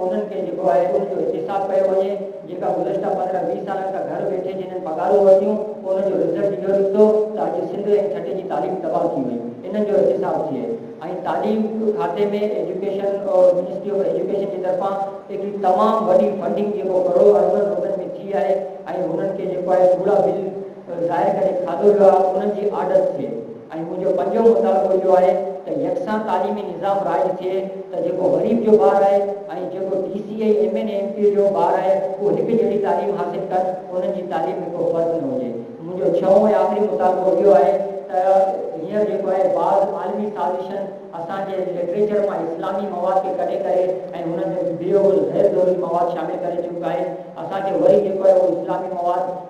انهن کي جيڪو آهي ان جو احتساب ڪيو وڃي، جيڪا گذشته پندرهن ويهه سالن کان گهر ويٺي جنھن پگهارون ورتيون ان جو رزلٽ اهو نڪتو ته اڄ سنڌ ۽ ٺٽي جي تعليم تباهه ٿي وئي انهن جو احتساب ٿئي ۽ تعليم کاتي ۾ ايجوڪيشن منسٽري آف ايجوڪيشن جي طرفان ايڏي تمام وڏي فنڊنگ جيڪو ڪروڙ اربن روپين ۾ ٿي آهي ۽ انهن کي جيڪو آهي ڪوڙا بل ته ظاهر ڪري کاڌو ويو آهي انهن جي آڏت ٿئي ۽ منهنجو پنجون مطالبو اهو آهي ته يڪسان تعليمي نظام رائج ٿئي ته جيڪو غريب جو ٻار آهي ۽ جيڪو D C ۽ M N A M P جو ٻار آهي اهو هڪ جهڙي تعليم حاصل ڪن انهن جي تعليم ۾ ڪو فرق نه هجي منهنجو ڇهون ۽ آخري مطالبو اهو آهي ته هينئر جيڪو آهي بعض عالمي سازشن اسان جي لٽريچر مان اسلامي مواد کي ڪڍي ڪري ۽ ان ۾ بيهوش غير ضروري مواد شامل ڪري چڪا آهن اسان کي وري جيڪو آهي اهو اسلامي مواد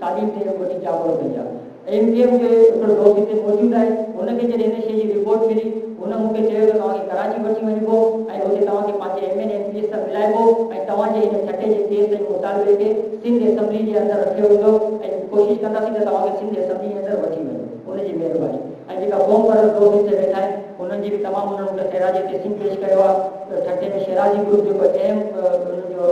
تعليم تي وڏي چاٻڪ پئي آ. ايم ڪيو ايم جو هڪڙو دوست هتي موجود آهي، هن کي جڏهن هن شيء جي رپورٽ ملي، هن مون کي چيو ته توهان کي ڪراچي وٺي وڃبو ۽ اتي توهان کي پنهنجي M N M P S سان ملائبو ۽ توهان جي هن ٺٽي جي ڪيس ۽ مطالبي کي سنڌ اسيمبلي جي اندر رکيو ويندو ۽ ڪوشش ڪنداسين ته توهان کي سنڌ اسيمبلي جي اندر وٺي وڃون. ان جي مهرباني ۽ جيڪا قوم پرور ٽرافي تي ويٺا آهن انهن جي به تمام انهن مون کي خيرات جي قسم پيش ڪيو آهي ته ٺٽي ۾ شيرازي گروپ جيڪو اهم انهن جو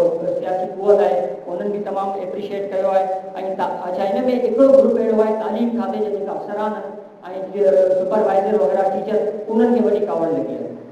سياسي قوت آهي انهن به تمام ايپريشيئيٽ ڪيو آهي ۽ تا اڇا ان ۾ هڪڙو گروپ اهڙو آهي تعليم کاتي جا جيڪا افسران آهن ۽ جيئن سپر وائيزر وغيره ٽيچر انهن کي وڏي ڪاوڙ لڳي آهي.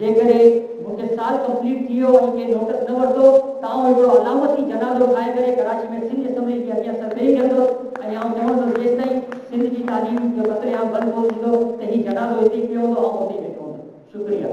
جيڪڏهن مون کي سال ڪمپليٽ ٿي ويو ۽ ڪنهن نوٽس نه ورتو ته آئون هڪڙو علامتي جنازو ٺاهي ڪري ڪراچي ۾ سنڌ اسيمبلي جي اڳيان سر ڏيئي ويهندس ۽ آئون چوندس جيستائين سنڌ جي تعليم جو قتل عام بند ڪونه ٿيندو ته هي جنازو هتي ئي پيو هوندو آئون اتي ئي ويٺو هوندس. شڪريه.